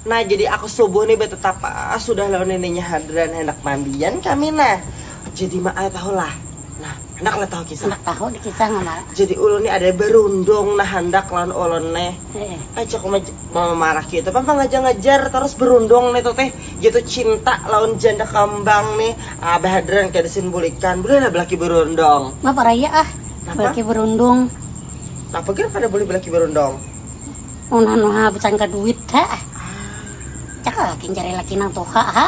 Nah jadi aku subuh nih betetapa sudah lawan neneknya Hadran handak mandian kami nah jadi ma ai tahu lah nah handak lah tahu kisah handak tahu di kisah ma jadi ulun nih ada berundung nah handak lawan ulun nih eh cak uma mama marah gitu pang pangajar ngajar terus berundung nih tuh teh gitu cinta lawan janda kambang nih abah Hadran kada sin bulikan boleh lah belaki berundung ma paraya ah belaki berundung napa ger kada boleh belaki berundung Mun anu ha bucan ka duit ha. Cak laki jari laki nang tuha ha.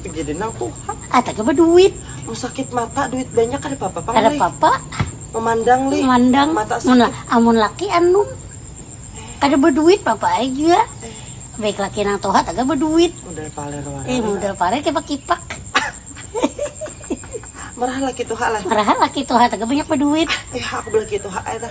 Jadi nang tuha. Ada ke beduit. Mau sakit mata duit banyak kada papa pang Kada papa. Memandang li. Memandang. Mata sakit. Mun, amun laki anu kada beduit papa ai jua. Eh. Baik laki nang tuha taga beduit. Model paler warai. Eh model paler kipak-kipak. Meraha laki tuha lah. Meraha laki tuha taga banyak beduit. Eh aku belaki tuha ai tah.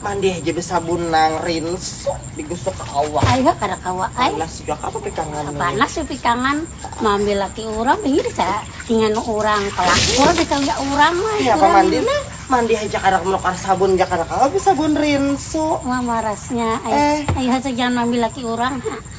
Mandih aja besabun nang rinso digusuk ke awak. Ayo kada kawa ai. Panas juga apa pikangan. Panas ya pikangan. Mambil laki orang ini bisa inganu orang pelakor bisa ya orang mah. Ya apa mandi lah. Mandi aja kada menukar sabun aja kada kawa besabun rinso. Wah marasnya. Eh. Ayo saja jangan mambil laki orang.